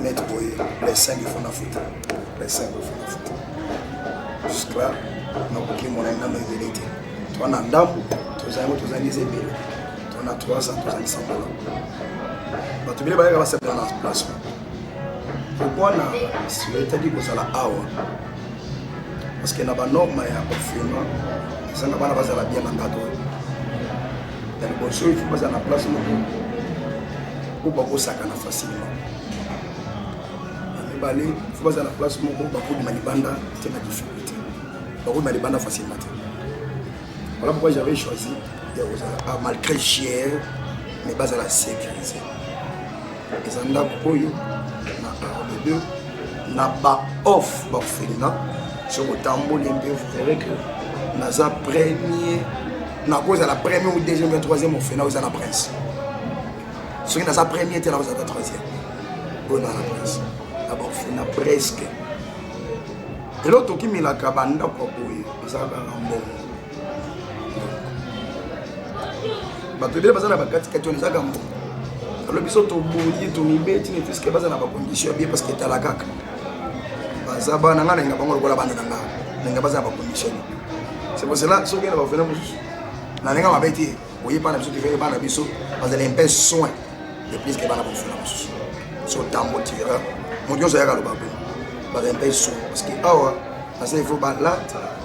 net boye les 5 il faut na futa les 5 il faut na futa jusque là nakoki mona nano ebele te toa na ndambo tozango tozangisa ebele toa na 300 tozangisa mbala bato ebele bayaka basepela na place kokwana etali kozala awa parce que na banorme ya confinement ezanga bana bazala bien na ngato ya liboso il faut bazala na place moko mpo bakosakana facilement na mibale il faut bazala na place moko bakobima libanda te na difficulté bakobima libanda facilement te voilà pourquoi j'avais choisi ya kozala ah, malgré chier mais bazala sécurisé eza ndako oyo na arme 2 na ba off bakofelina soki otamboli mpe verrai que naza premier nakozala premier ou deuxième ya troisième ofena ozala prince soki naza premier te nakozala troisième oyo na na prince na baofena presque eloko tokimelaka bandako ya boye ezalaka na mbongo bato ebele baza na bakatikati wana eza kambo alo biso toboyi tomibeti ne puiske baza na bacondition bie parce que etala kaka baza bana ngai nalinga bango lokola bana na nga nalinga baza na bacondition c'est pour cela soki na bavena mosusu nalinga mabe te oye bana biso tivele bana biso bazala mpe soin de puiske bana bavena mosusu so tambo tira moto nyonso ayaka loba boye bazala mpe soin parce que awa nasa il faut balata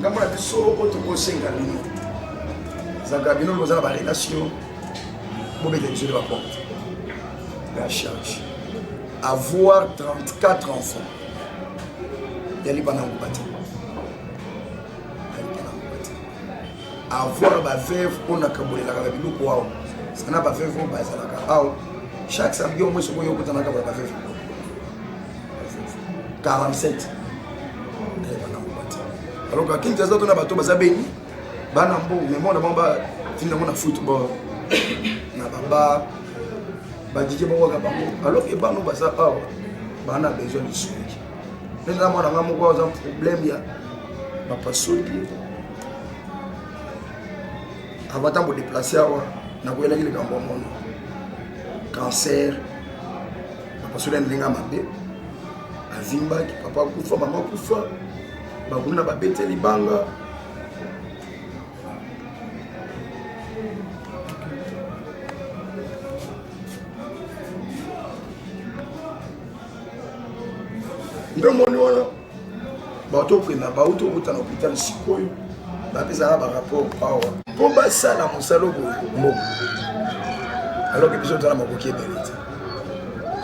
ngambo na biso oyo tokosenga bino zaka bino boza na barelation bobeta biso nde baporte la charge avoir 34 enfants ya libana ngoba te avoir baveuve oyo nakabolelaka na biloko awa sana baveuve oyo bazalaka awa chaque samedi omoi soki oyokotanaka bana baveuve 47 alors ka kinti aza tona bato baza beni bana mbo me mwana bango batindi yango na football na baba badike bango kaka bango alors ke bano baza awa bana besoin de soki neza mwana nga moko aza problème ya bapasoki avant ntango deplace awa nakoyelaki likambo ya mono cancer papa soki alinga mabe azimbaki papa akufa mama akufa bakuna babete libanga ndomoni wana bato okenda bauti okuta na hôpital sikoyo bapesaka barapport awa mpo basala mosala oyo mbongo aloke biso tozala makoki ebele te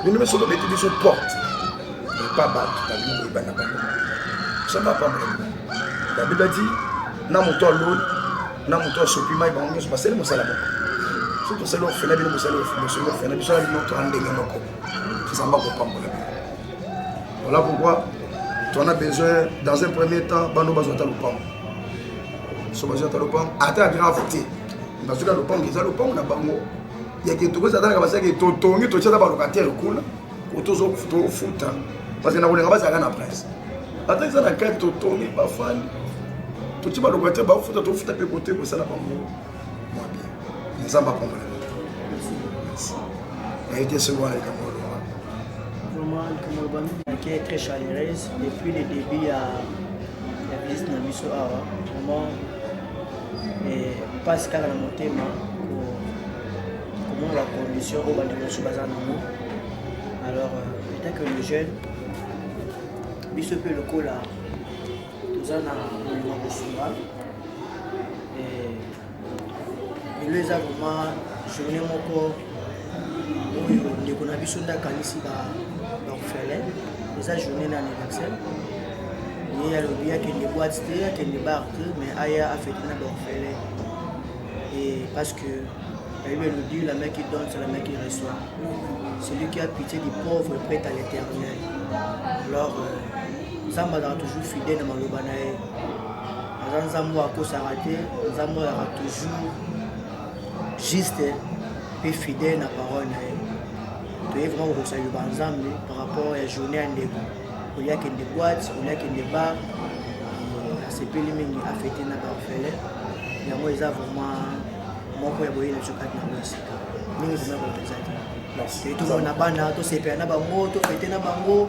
bino biso tobeti biso porte epa bato babino koyeba na bango osamba pamela babiba ti na moto aloni na moto asopi mai bango nyonso basali mosala moko so tosali ofela bino mosali mosali ofela biso na bino toa ndenge moko tozamba kopambola bino Voilà pourquoi tu en as besoin dans un premier temps bano bazwa ata lopango so bazwi ata lopango ata grave te bazwi ka lopango eza lopango na bango yake tokozi atalaka basaki totongi totya ata balocataire kuna otozofuta parce que na kolinga bazalaka na presse ata eza na kati totongi bafandi totya balocataire bafuta tofuta mpe kote kosala bango mwa bien nzambe apambola naye te soki wana likambo oloba vraiment likambo oloba mike est très chaleureuse depuis le début ya ya visite na biso awa vraiment mpasi kaka na motema komona bacondition oyo bandeko mosusu baza nango alors euh, etant que le jeune biso mpe lokola toza na bolingo kosunga lelo eza vraimen journée moko oyo ndeko na biso nde akanisi baorphelin eza journée na anniversaire ye alobi akende boite te akende bar te mais aya afete na baorphelin et parce que la Bible nous dit la main qui donne, c'est la main qui reçoit. Celui qui a pitié du pauvre est prêt à l'éternel. Alors, euh, nzambe azalaka toujours fidèle na maloba na ye aza nzambe oyo akosaka te nzambe oyo azalaka toujours juste mpe fidèle na parole na ye toye vraimen kokokisa liloba ya nzambe par rapport ya journée ya ndeko oliaki nde boite oliaki nde bar euh, asepeli mingi afete na barfele yango eza vraiment moko ya boyei na biso kati na mosika mingi vraimen kopenza te tomona bana tosepela na bango tofete na bango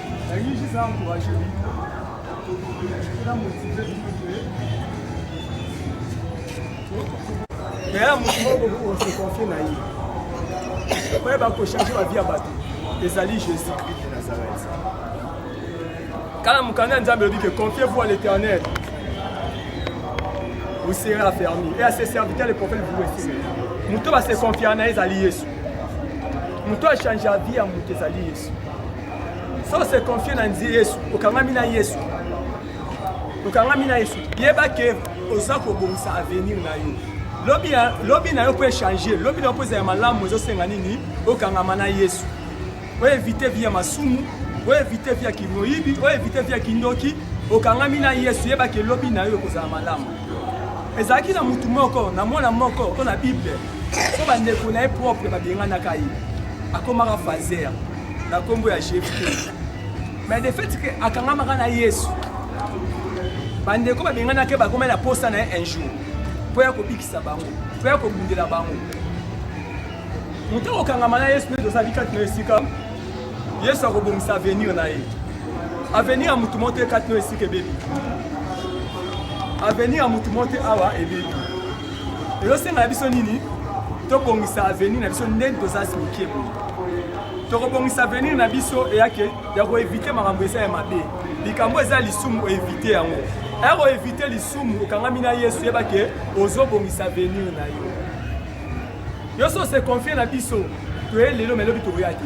yaya moto moko okoki se confie na ye oye bakochange bavi ya bato ezali jésus christ de nazareth kala mokanda ya nzambe elobi ke confie vous à l'éternel vous serez affermi et à ses serviteurs les prophètes vous resterez moto base confia na ye ezali yesu moto achange avi ya moto ezali yesu so se confie na nzi yesu okangami na yesu okangami na yesu yeba ke oza kobongisa avenir na yo lobi, ya, lobi na yo mpo echange lobi na yo mpo eza ya malamu ezosenga nini okangama na yesu oevite vi ya masumu oevite vi ya kimoyibi oevite vi ya kindoki okangami na yesu yeba ke lobi na yo ekozala malamu ezalaki na motu moko na mwana moko mpo na bible mpo bandeko na ye propre babenganaka ye akomaka fazer na nkombo ya jefte mais de fait ke akangamaka na yesu bandeko babenganaki bakomai na posa na ye un jour mpo ya kobikisa bango mpo ya kobundela bango moto akokangama na yesu nde tozali kati na esika yesu akobongisa avenir na ye avenir ya motu moko te kati na esika ebebi avenir ya motu moko te awa ebebi ezosenga na biso nini tobongisa avenir na biso ndenge tozasi moke boye tokobongisa avenir na biso eyake ya koevite makambo eza ya mabe likambo eza lisumu oevite yango aya koevite lisumu okangami na yesu yeba ke ozobongisa avenir na yo yo so se confie na biso toye lelo me elobi tokoya te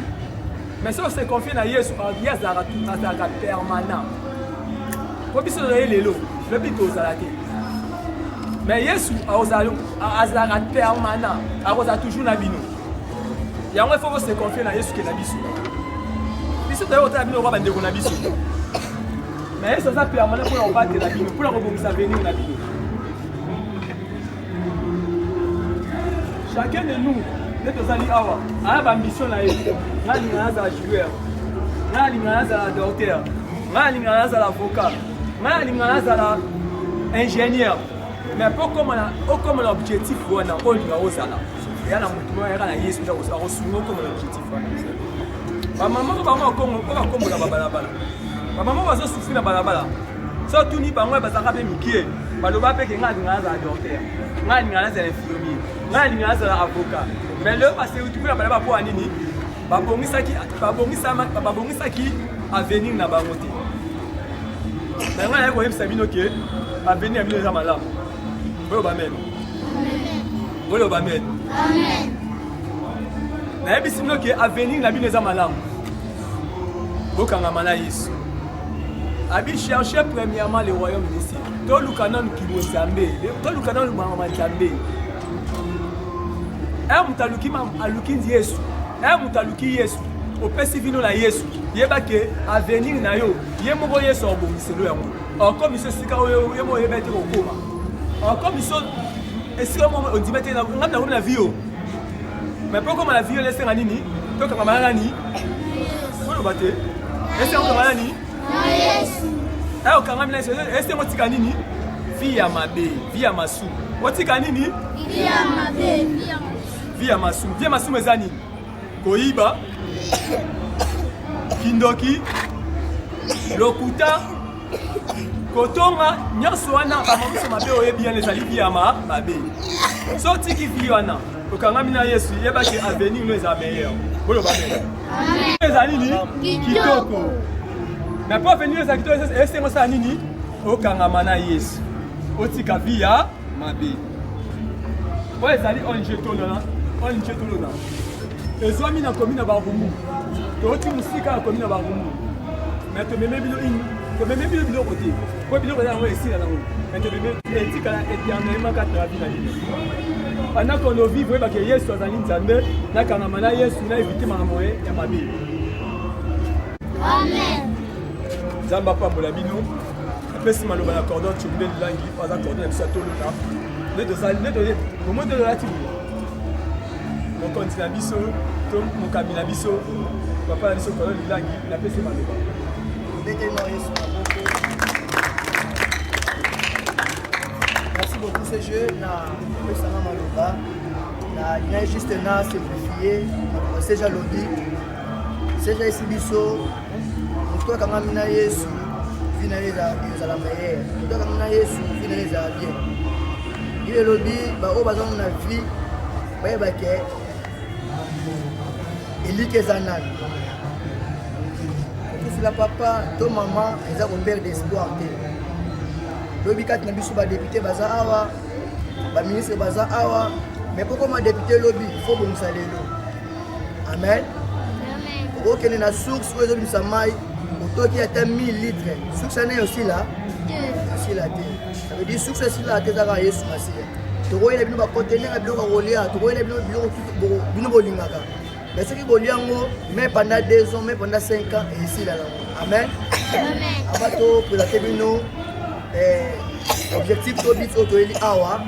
mais soki ose confie na yesu ye azalaka tu azalaka permanent po biso tozali lelo lobi tozala te mais yesu azalaka permanent akozala toujours na bino yango ifo bose confie na yesu ke na biso biso toyei kotala bino lokola bandeko na biso mais yesu aza permanent mpona kobatela bino mpona kobongisa venir na bino chacun de nous nde tozali awa aya bambition na ye ngai alingaka nazala joueur ngai alingaka nazala docteur ngai alingaka nazala avocat ngai alingaka nazala ingénieur mais mpo okoma na objectif wana olinga ozala eya na motu moko yaka na yesu nde akosunga okoma na objectif wana bamama bango bakombola babalabala bamama bazosufri na balabala so otuni bango bazalaka mpe mikie baloba mpe ke ngai alinga nazala docteur ngai alinga nazala infirmier ngai alinga nazala avocat mais leo baseuti kuna bala bapoa nini babongisaki avenir na bango te na ngai naye koyebisa bino ke avenir ya bino eza malamu boloba amen boloba amen nayebisi bino ke avenir na bino eza malamu bokangama na yesu abi cherche premièrement le royaume de ciel toluka nanu kibonzambe toluka nanu mangama nzambe e moto aluki aluki yesu e moto aluki yesu opesi vino na yesu yeba ke avenir na yo ye moko yesu akobongiselo yango okomi so esika oyo ye moko oyeba ete kokoma okomi so esika moko ondima te ngai nakomi na vie oyo Mais mpo okoma na viole esenga nini tokangama na nani oloba te esenga okangama nani ayo okangami na yesu esenga otika nini vi ya mabe vi ya masumu otika nini vi ya masumu vi ya masumu eza nini koyiba kindoki lokuta kotonga nyonso wana makambo mabe oyebi yana ezali biyama mabe so tiki vi wana okangami na yesu yebaki avenir no eza meilleur boloba mele ezali nini kitoko na mpo avenir eza kitoko esengo osala nini okangama na yesu otika vi ya mabe oyo ezali onje tolona onje tolona ezwami na komi na barumbu touti mosika na komi na barumbu me tomeme bino ini tomeme bino biloko te mpo biloko eza yango esila nango me tomeme etikala eternellement kati na babi na bino pendant qu'on o vivre oyebake yesu azali nzambe nakangama na yesu na evite makambo ye ya mabe nzambe apambola bino apesi maloba na cordon tshombe lilangi oyo aza cordon ya biso ya tolona nde tozali nde toye bomoi nde tozalati boye mokonzi na biso to mokambi na biso papa na biso kolo lilangi napesi maloba ndenge na yesu merci beaucoup ce jeu na pesanga maloba na lien juste na simplifie seja lobi seja esi biso moto akangami na yesu vi na ye ezala meilleur moto akangami na yesu vi na ye ezala bien ye elobi baoyo bazana na vi bayeba ke eliki eza nani okufila papa to mama eza koperde espoir te lobi kati na biso badepute baza awa baministre baza awa me kokoma depute lobi fo bongisa lelo amen okokende na source oyo ezobimisa mai otoki ata 1000 litre source ane osila osila te ça veut dire source esila te ezaka yesu masiya tokoyela bino bakontenere ya biloko ya kolia tokoyela bino biloko bino bolingaka mais soki bolia yango mai pendant 2 ans mai pendant 5 ans esila yango amen aba topresente bino eh, objectif to bit oyo toyeli awa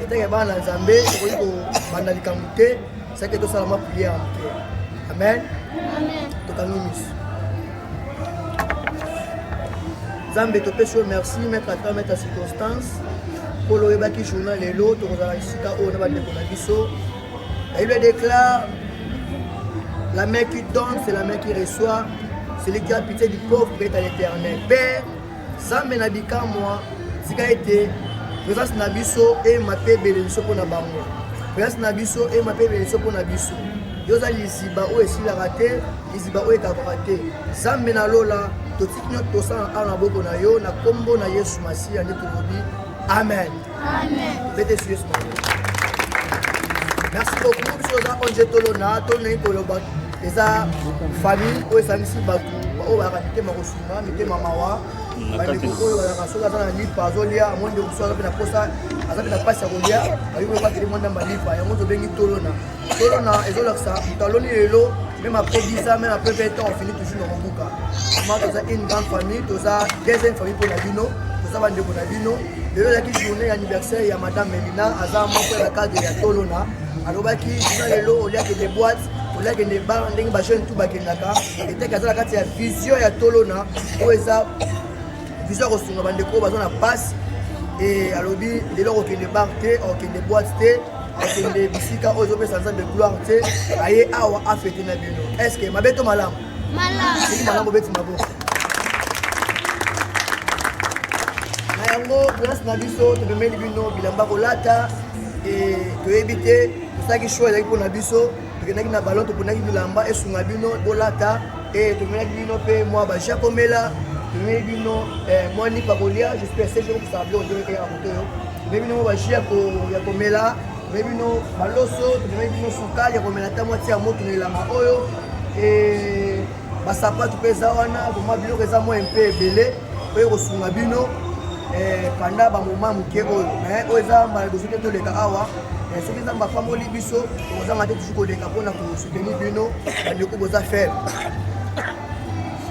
etake bana nzambe tokoki kobanda likambo te seke tosala mwa priere moke amen tokangi misu nzambe topesi yo merci maître ata maître circonstance polo oyebaki journal lelo tokozala esika oyo na bandeko na biso ayebla déclare la main qui donne c'est la main qui reçoit celui qui a pitié du pauvre est à l'éternel père Zambe na bikamwa tika ete presence na biso ema mpe ebele biso mpo na bango presence na biso ema mpe ebele biso mpo na biso yo oza liziba oyo esilaka te liziba oyo ekabaka te zambe na lola totiki nyonso tosala awa na boko na yo na nkombo na yesu masiya nde tolobi amen bete yesu yesu merci beaucoup biso oza onge tolona tolonai koloba eza famille oyo esangisi bato oyo bayaka mitema kosu na mitema mawa bandeko oyo bazalaka soki aza na lipa azolia amoni ndeko mosusu aza mpe na posa aza mpe na mpasi ya kolia ayoki bakeli mwa ndamba lipa yango tobengi tolona tolona ezolakisa moto aloni lelo meme après 10 ans meme après 20 ans on finit toujours na kobuka ma toza une grande famille toza deuxième famille mpo na bino toza bandeko na bino lelo ezalaki journée ya anniversaire ya madame melina aza moko ya cadre ya tolona alobaki bino lelo oliakende boite oliakende bar ndenge bajeune tu bakendaka etaki aza na kati ya vision ya tolona oyo eza vision ya kosunga bandeko oyo baza na mpasi e alobi lelo akokende bar te akokende boite te akokende bisika oyo ezopesa nzambe gloire te aye awa afete na bino estce mabe to malamu soki malamu obeti maboko na yango place na biso topemeli bino bilamba kolata e toyebi te tosalaki show ezalaki mpo na biso tokendaki na ballon toponaki bilamba esunga bino bolata e eh, tomelaki bino mpe mwa baja komela tomeli bino eh, mwa nipa kolia jusqu'à ce jour kosala biloko toyokaki ya moto oyo tomeli bino mwa baji ya komela tomeli bino baloso tomeli bino sukali ya komela ata mwati ya moto na elanga oyo eh, basapatu mpe eza wana vraimen biloko eza mwa mpe ebele oyo ekosunga bino panda bamoma moke oyo me oyo eza mbala liboso te toleka awa Eh, soki nzambe apamoli biso tokozanga te tusu koleka mpo na kosoutenir bino bandeko boza faible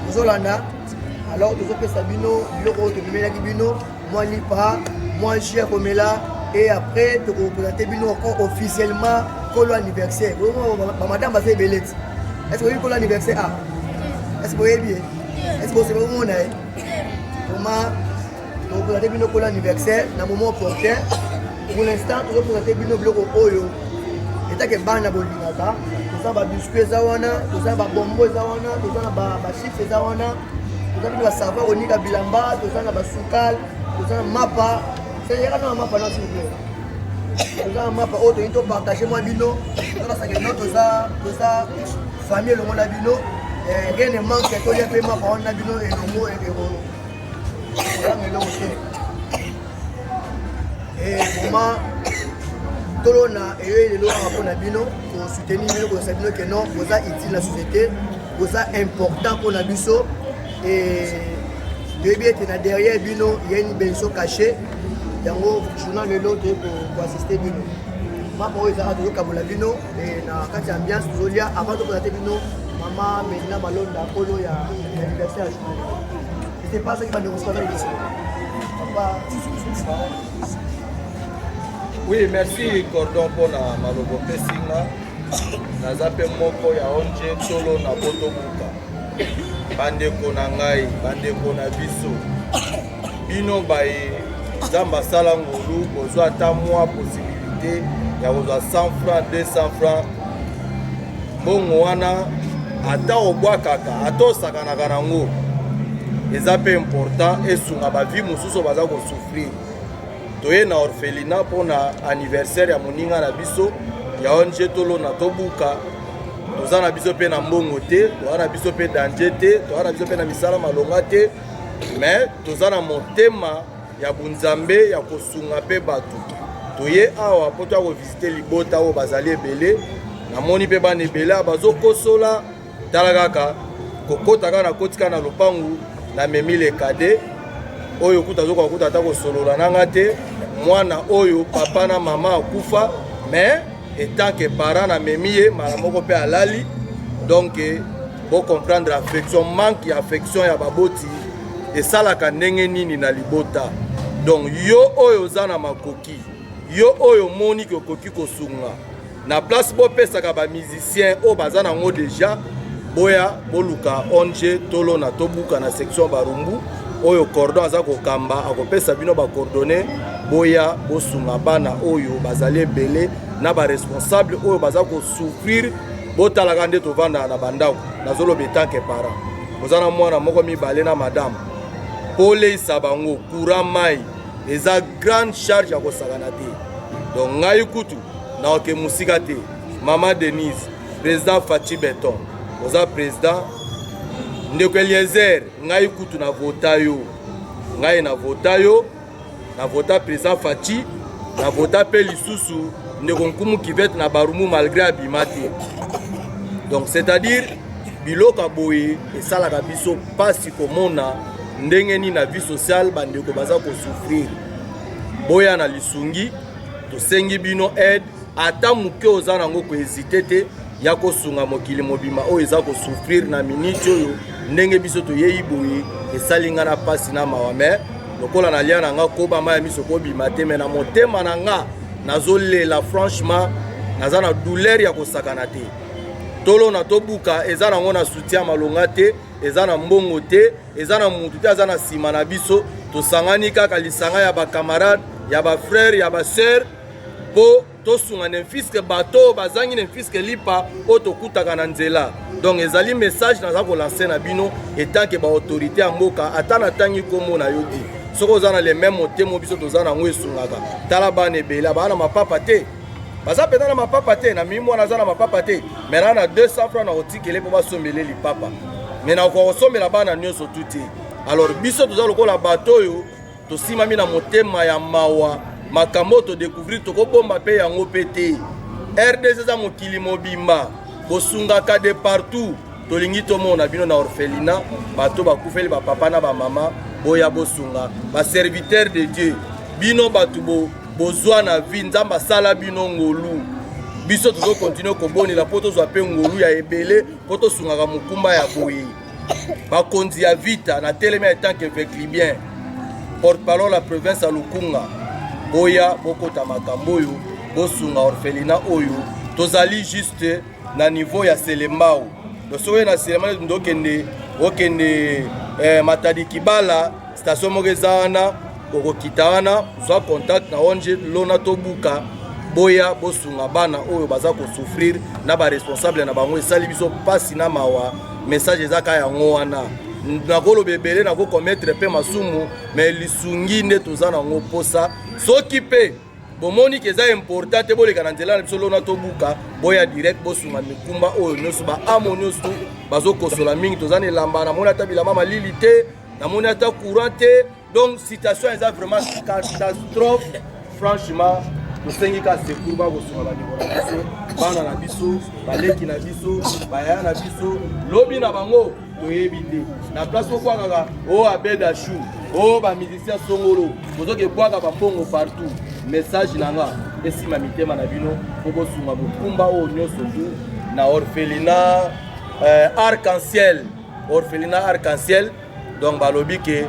tozolanda alors tozopesa bino biloko oyo tomemelaki bino mwa lipa mwa jus ya komela et après tokopresente bino encore officiellement kolo anniversaire bamadame baza ebele ti est ce que oyebi kolo anniversaire a ah. est ce que boyebi ye est ce que osebe omona ye oma topresente bino kola anniversaire na moment opportun pour l'instant tozopresente bino biloko oyo etake bana bolingaka toza babiscuit eza wana toza na babombo eza wana toza na bachiffre eza wana toza bino basava konika bilamba toza na basukal toza na mapa seyaka na mapa na silple toza na mapa oyo toyei topartage mwa bino tobasaka no toza toza famille elongo na bino eh, rien ne manque tolia mpe mapa wana na bino elongo Yanga eloko te. Eh, vraiment, tolona eyoyi lelo awa mpo na bino kosoutenir bino kosa bino ke non boza utile na société boza important mpo na biso toyebi ete na derrière bino ya une benso caché yango journal lelo toyei koassiste bino mapa oyo ezalaka tozokabola bino Eh, na kati ya ambiance tozolia avant tokola te bino mama melina malonda kolo ya anniversaire ya journal ete pas soki bandeko sukana liso papa oui merci cordon mpona maloba opesi nga naza mpe moko ya onje solo na botobuka bandeko na ngai bandeko na biso bino baye nzambe asala ngolu bozwa ata mwa posibilité ya kozwa 100 franc 200 franc mbongo wana ata obwakaka ata osakanaka nango eza mpe important esunga bavi mosusu baza kosouffrir toye na orphelina mpo na anniversaire ya moninga na biso ya ong tolona tobuka toza na biso mpe na mbongo te toza na biso mpe danger te toza na biso mpe na misala malonga te mais toza na motema ya bunzambe ya kosunga mpe bato toye awa mpo toya kovisite libota oyo bazali ebele namoni mpe bana ebele awa bazokosola tala kaka kokota kaka nakoti kaka na lopangu namemi lekade oyo kuta azokoka kuta ata kosolola na nga te mwana oyo papa na mama akufa mais etant que parent na memi ye mala moko pe alali donc bo comprendre affection manque ya affection ya baboti esalaka ndenge nini na libota donc yo oyo oza na makoki yo oyo omoni ke okoki kosunga na place bopesaka bamusicien oyo baza nango deja boya boluka ong tolona tobuka na section barumbu oyo cordon aza kokamba akopesa bino bacoordonne boya bosunga bana oyo bazali ebele na baresponsable oyo baza kosouffrir botalaka nde tovandaka na bandako nazoloba etanke parent oza na mwana moko mibale na madame mpo oleisa bango courant mai eza grande charge ya kosakana te donc ngai kutu naoke mosika te mama denise président faci beton oza président ndeko eliezer ngai kutu na vota yo ngai na vota yo na vota président faci na vota mpe lisusu ndeko nkumu kivete na barumu malgré abima te donc c'est-à-dire biloko ya boye esalaka biso mpasi komona ndenge nini na vie sociale bandeko baza kosouffrir boya na lisungi tosengi bino aide ata moke oza nango kohezite te ya kosunga mokili mobima oyo eza kosouffrir na miniti oyo ndenge biso toyei boye esali ngai na mpasi na mawa me lokola nalia na ngai koba mai ya miso kobima te me na motema na ngai nazolela franchement naza na douleur ya kosakana te tolona tobuka eza nango na soutien ya malonga te eza na mbongo te eza na motu te aza na nsima na biso tosangani kaka lisanga ya bakamarade ya bafrere ya basœur mpo tosunga nemfiske bato oyo bazangi nemfiske lipa oyo tokutaka na nzela donc ezali message naza kolanse na bino etanke baautorité ya mboka ata natangi nkombo na yo di soki oza na le meme motema biso toza na yango esungaka tala bana ebele baa na mapapa te baza mpenza na mapapa te na mimi mwana aza na mapapa te mai na na 200 franc na kotikele mpo basombele lipapa mai nakoka kosombela bana nyonso tu te alors biso toza lokola bato oyo tosimami na motema ya mawa makambo oyo todecouvrir tokobomba mpe yango mpe te rdc eza mokili mobimba bosungaka de partout tolingi tomona bino na orphelina bato bakufeli bapapa na bamama boya bosunga baserviteur de dieu bino bato bo, bozwa na vie nzambe asala bino ngolu biso tozokontinue kobonela mpo tozwa mpe ngolu ya ebele mpo tosungaka mokumba ya boye bakonzi ya vita na teleme en tant que veclibien porte-parole ya province ya lukunga boya bokota makambo oyo bosunga orphelina oyo tozali juste na niveau ya selembao to soki na selema nde okende okende eh, matadi kibala station moko eza wana okokita wana zwa contact na ong lona tobuka boya bosunga bana oyo baza kosouffrir na baresponsable na bango esali biso mpasi na mawa message eza ka yango wana nakoloba ebele nakokometre mpe masumu me lisungi nde toza nango mposa soki mpe bomoni ke eza important te boleka na nzela na biso lona tobuka boya direct bosunga mikumba oyo nyonso baamo nyonso bazokosola mingi toza na elamba namoni ata bilamba malili te namoni ata courant te Donc situation eza vraiment catastrophe franchement tosengi ka secours bakosunga bandeko na biso bana na biso baleki na biso bayaya na biso lobi na bango toyebi te na place okwakaka o oh, abeda chou o oh, bamusicien songolo bozoki ebwaka bambongo partout message na nga esima mitema na bino po bosunga bokumba oyo nyonso tu na orphelina euh, arc-en-ciel orphelina arc-en-ciel donc balobi ke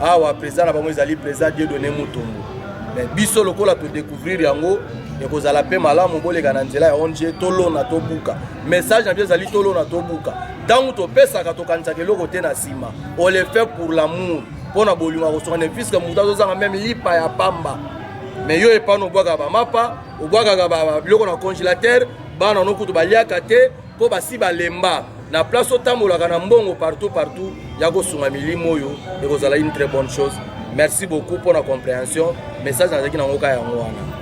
awa président na bango ezali président dieu donné mutombo mais biso lokola todecouvrir yango ekozala mpe malamu boleka na nzela ya ong tolona tobuka message na biso ezali tolona tobuka ntango topesaka tokanisaka eloko te na nsima on le fait pour l'amour mpo na bolingo ya kosokana puiske moto azozanga meme lipa ya pamba me yo epano obwakaka bamapa obwakaka biloko na congélateur bana no kutu baliaka te mpo basi balemba na place otambolaka na mbongo partout partout ya kosunga milimo oyo ekozala une très bonne chose merci beaucoup mpo na comprehension message nazalaki na ngoka yango wana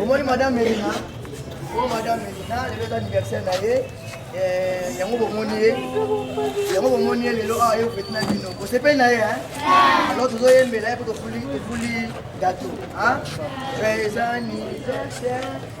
omoni madame elina o oh, madame elina lelo eza anniversaire na ye eh, yango bomoni ye yango bomoni ye lelo awa ah, ye ofeti na bino bosepeli na ye alors tozoyembela ye mpo tofuli gato eza anniversaire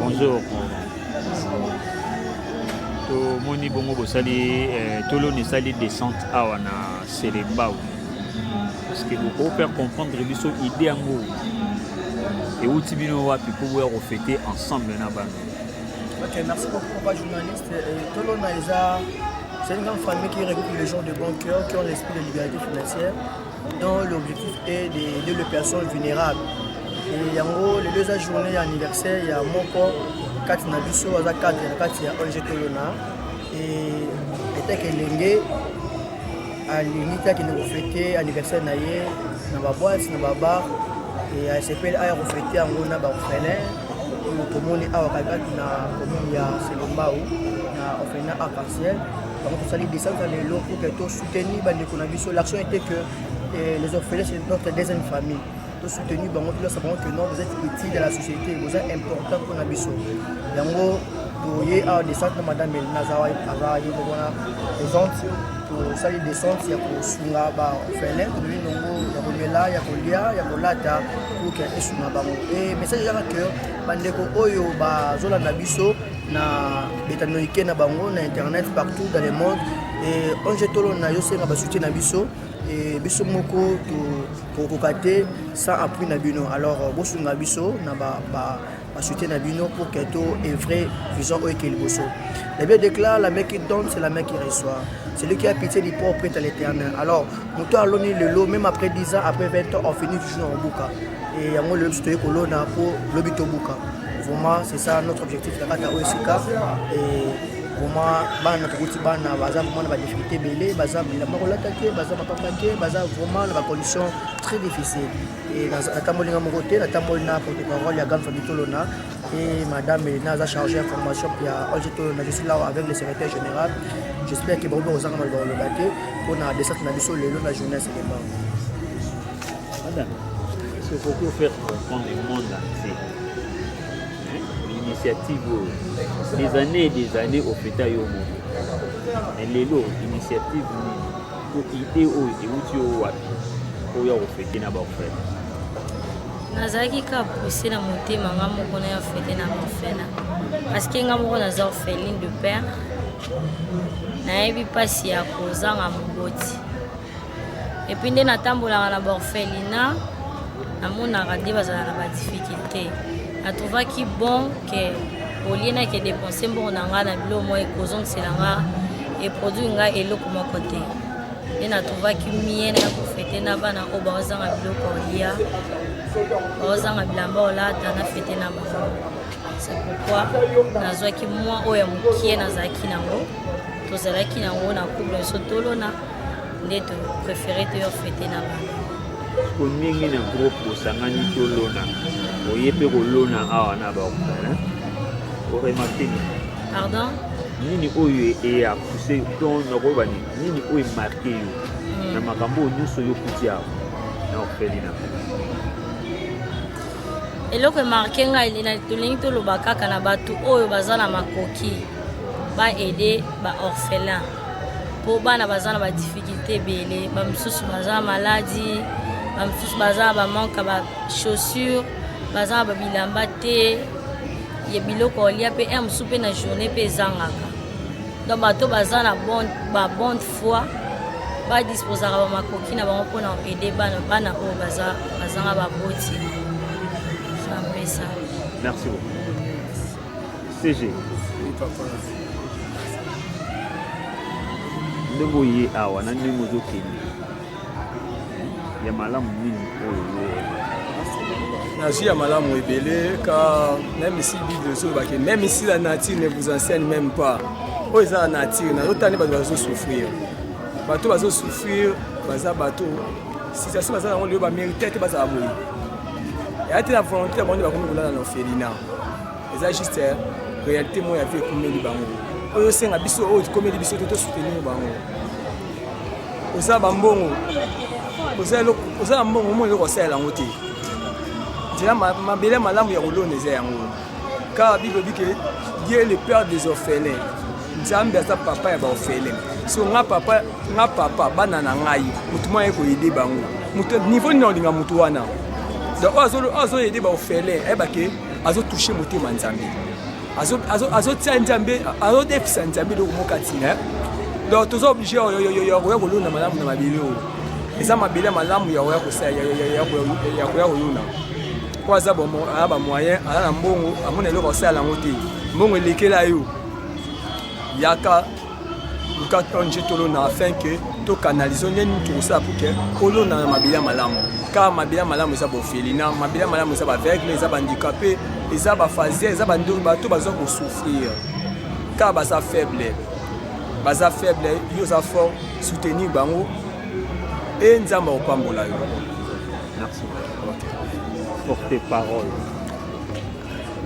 bonjour tomoni bongo bosali eh, toloni esali descente awa na selembao parce que bokoki faire comprendre biso idée yango euti bino wapi mpo boya kofete ensemble na bana ok merci beaucoup papa journaliste eh, tolona eza c'est une grande famille qui regroupe les gens de bon cœur qui ont l'esprit de liberté financière dont l'objectif est d'aider les personnes vulnérables. Et yango lelo eza journée ya anniversaire ya moko kati na biso aza cadre na kati ya ONG Tolona et eteke elenge alingi te akende kofete anniversaire na ye na baboite na babar e asepeli aya kofete yango na baorphelin oyo tomoni awa kakati na commune ya selombau na orphelina arc-en-ciel bango tosali descente ya lelo pour que teni bandeko na biso l'action était que eh, les orphelins c'est notre deuxième famille tosoutenir bango tolasa bango que non vous êtes utile ya la société boza important mpona biso yango toye awa descente na madame elina azawa aza ye moko wana présente tosali descente ya kosunga baorphelin toloi nongo ya komela ya kolia ya kolata poke esunga bango e message ezaka que bandeko oyo bazolanda biso na betanoike na bango na internet partout dans le monde Eh, onge tolona yo senga basute na biso eh, biso moko tokokoka te sans appui na bino alors euh, bosunga biso na basute na bino pour que to evre vision oyo eke liboso la bible déclare la main qui donne c'est la main qui reçoit celui qui a pitié du pauvre prête à l'éternel alors moto aloni lelo même après 10 ans après 20 ans on finit toujours na kobuka e yango lelo biso toyei kolona mpo lobi tobuka vraiment c'est ça notre objectif na kati ya oyo esika vraiment bana tokoti bana baza vraiment na badifficulté ebele baza bilamba kolata te baza mapapa te baza vraiment na bacondition très difficile e natamboli nga moko te natamboli na protocole ya gamme famille tolona e madame elena aza chargé ya formation ya ong tolona je suis là avec le secrétaire général j'espère que baobe kozanga maloba koloba te mpo na descente na biso lelo na journée ya selema madame est-ce que vous pouvez faire comprendre le monde entier initiative oyo des années et des années ofeta yo moko mais lelo initiative nini to idée oyo ewuti yo wapi oyo ya kofete na baofela nazalaki kaka pousse na motema nga moko na ya fete na baofela parce que nga moko naza orpheline de père nayebi mpasi ya kozanga moboti epuis nde natambolaka na baorphelina namonaka nde bazala na badifficulté natrouvaki bon ke olie nake dépense mbongo na ngai na biloko moko ekozongisela ngai eproduire ngai eloko moko te nde natrouvaki mie na kofete na bana oyo baozanga biloko olia baozanga bilamba olata na fete na bango c'est pourquoi nazwaki mwa oyo ya mokie nazalaki nango tozalaki nango na couple biso tolona nde to préféré to yo fete na bana ko ndenge na groupe bosangani tolona oye mpe kolona awa na baokana oremarke nini pardon nini oyo eapuse to nakoyeba nini nini oyo emarke yo hmm. na makambo oyo nyonso yokuti awa na ofeli na eloko emarke ngai tolingi toloba kaka na bato oyo baza na makoki baede baorphelin mpo bana baza na badifficulte ebele bamosusu baza na maladi bamosusu baza na bamanke ya bachaussure baza na babilamba te ya biloko olia mpe ya mosusu mpe na journée mpe ezangaka donc bato baza na babonde foi badisposaka bamakoki na bango mpona aide bana bana oyo bazanga baboti merci beaucoup CG. ndenge oye awa na ndenge ozokende ya malamu nini oyo nazwi ya malamu ebele ka meme si bible ezolobake meme ici la nature ne vous enseigne même pas oyo eza la nature nazotani bato bazosouffrir bato bazosouffrir baza bato situation baza nango lelo bamérite te bazala boye eya te na volonté ya bango nde bakomi kolala na orphelina eza juste eh, réalité moko ya vie ekomeli bango oyo osenga biso oyo ekomeli biso te tosoutenir bango oza bambongo oza na mbongo omoi eloko osalela yango te nzela mabele malamu ya kolona eza yango kaka bible ebi ke ye le père des orphelins nzambe aza papa ya baorphelin so nga papa nga papa bana na ngai motu mwa ye koyede bango motu niveau nini olinga motu wana donc oyo azoyede baofele ayeba ke azotouche motema nzambe azotia nzambe azodefisa nzambe eloko moko kati na donc toza oblige ya koya kolona malamu na mabele oyo eza mabele ya malamu ya koya kosala ya koya kolona mpo aza bamoyen aza na mbongo amona eloko asala yango te mbongo elekela yo yaka luka ong tolona afin ke to canalise nde nini tokosala pour ke olona na mabele ya malamu car mabele ya malamu eza bofeli na mabele ya malamu eza baveugle eza bahandikape eza bafasia eza bato baza kosouffrir car baza faible baza faible yo oza fort soutenir bango e nzambe akopambola yo porte parole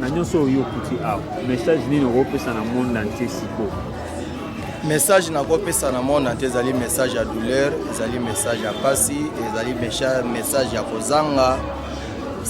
na nyonso oyo okuti awa message nini okopesa na monde entier sikoyo message nakopesa na monde entier ezali message ya douleur ezali message ya pasi ezali message ya kozanga